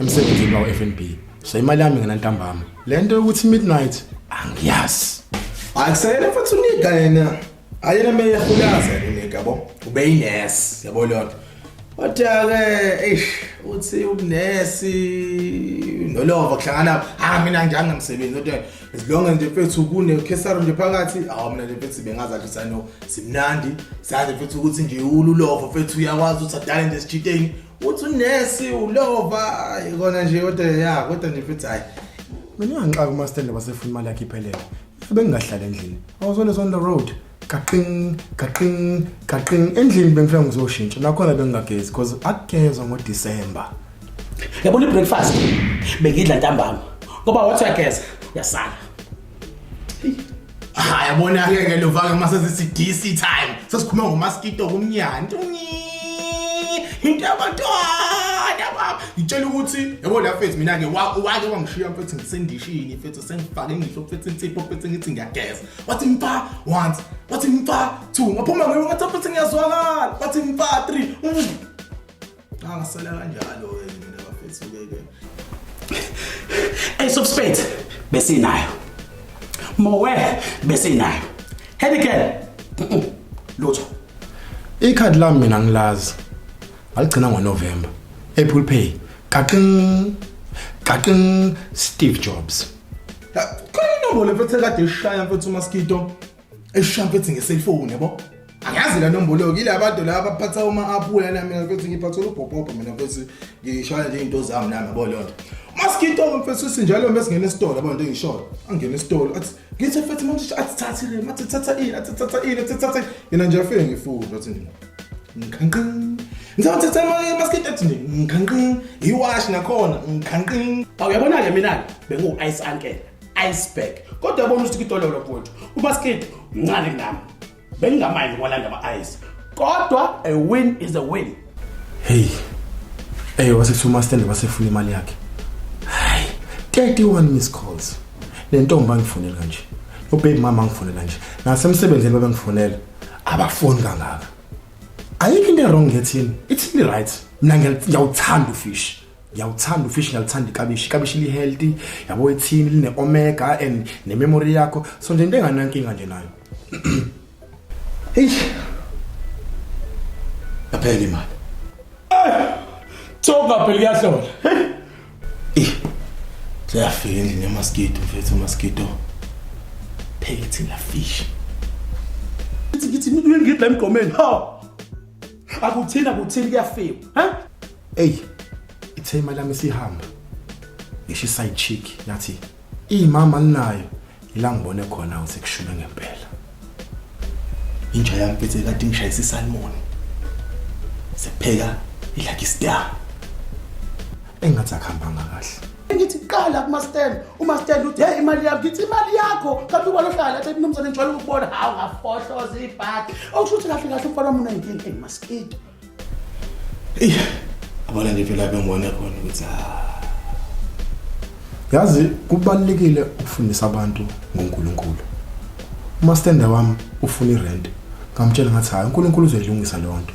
emsebenzini wawo-fnb so imali yami ngena ntambama le nto yokuthi midnight angiyazi akusayena futhi unika yena ayena meyehulaza unika bo ubeyines yabo lona kodwa-ke eish uthi ubunesi nolova kuhlangana ha mina ngijange msebenzi kodwa zilonge nje mfethu kunekhesaro nje phakathi awu mina nje mfethu bengazadla sano simnandi sazi mfethu ukuthi nje ululova mfethu uyakwazi ukuthi adale nje esitshiteni uthi unesi ulova ikona nje kodwa ya kodwa nje futhi hayi mina ngangixaka umastende wasefuna imali yakhe iphelele bengingahlala endlini i was always on the road gaqing gaqing gaqing endlini bengifika ngizoshintsha nakhona bengingagezi because akugezwa ngodisemba yabona i-breakfast bengidla ntambama ngoba wathi uyageza uyasala Ah yabona ke ke lovaka mase sisidisi time. Sesikhuluma ngomaskito kumnyana. Into yabantwana baba. Ngitshela ukuthi yabo la mfethu mina ke wake wangishiya mfethu ngisendishini mfethu sengifake ngihlo mfethu insipho mfethu ngithi ngiyageza. Wathi mfa once, wathi mfa two. Ngaphuma ngiyo ngathi mfethu ngiyazwakala. Wathi mfa three. Angisela ah, kanjalo ke mina bafethu ke ke. Ace of spades besinayo. Mowe besinayo. Hurricane. Lutho. Ikhadi lami mina ngilazi. Aligcina ngoNovember. Apple Pay. Kaqing. Kaqing Steve Jobs. Khona inombolo mfethu ekade ishaya mfethu uMaskito. eshampa ethi ngeselfoni yabo angazi la nombolo kile abantu laba baphatha uma aphula la mina futhi ngiphatha ubhobhobha mina futhi ngishaya nje into zami nami yabo lonto masikito mfethu sinjalo mesingena esitolo yabo into engisholo angena esitolo athi ngithi mfethu manje athi thatha le mathi thatha ini athi thatha ini athi thatha yena nje afike ngifunda athi ngikhanqini ngizawuthi thema masikiti athi nje ngikhanqini iwash nakhona ngikhanqini awuyabona-ke mina-ke bengu-ice ankela iceberg kodwa yabona ukuthi kitololo mfowethu ubaskid mncane kunami bengingamanye ngokwalanda ama-ice kodwa a win is a win heyi ey wasethi umastende basefuna imali yakhe hayi 31 miss calls le ntombi angifonela kanje nobaby mama angifonela nje nasemsebenzini babengifonela abafoni kangaka ayikho into erong ngethini ithini right mina ngiyawuthanda ufishi ngiyawuthanda ufish ngiyalithanda ikabishi ikabishi li-healthy yabo ethini line-omega and nememory yakho so nje into enganankinga nje nayo eish yaphela imali thoka phela kuyahlola seyafika endlini yamaskito mfethu amaskito phekethini lafish ngithi ngithi ngithi ngithi la emgomeni ha akuthini akuthini kuyafiwa ha eyi ithe imali yami sihamba ngisho iside chick yathi imama ninayo ila ngibone khona usekushule ngempela inja yami phethe kade ngishayisa isalmon sekupheka ilakistar engathi akuhambanga kahle ngithi qala kumastand umastand uthi hey imali yakho ngithi imali yakho kanti ubona ohlala athi mnumzane ngijwayele ukubona hawu ngafohloza ibhadi okusho ukuthi kahle kahle umfana wami unenkinga eyi maskito eyi abona nje phela bengibone khona ukuthi ah. yazi kubalulekile ukufundisa abantu ngonkulunkulu umastenda wami ufuna irent ngamtshela ngathi hhayi unkulunkulu uzoyilungisa leyo nto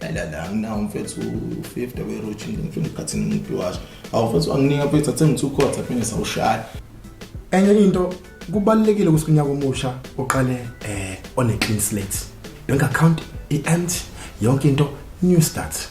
Lalala anginawo mfethu u-50 weroutine ngifuna ukhathini umuntu washo. Awu mfethu anginika mfethu athe ngithi ukhotha phinde sawushaya. Enye into kubalekile ukuthi kunyaka omusha uqale eh on a clean slate. Bank account i-empty yonke into new start.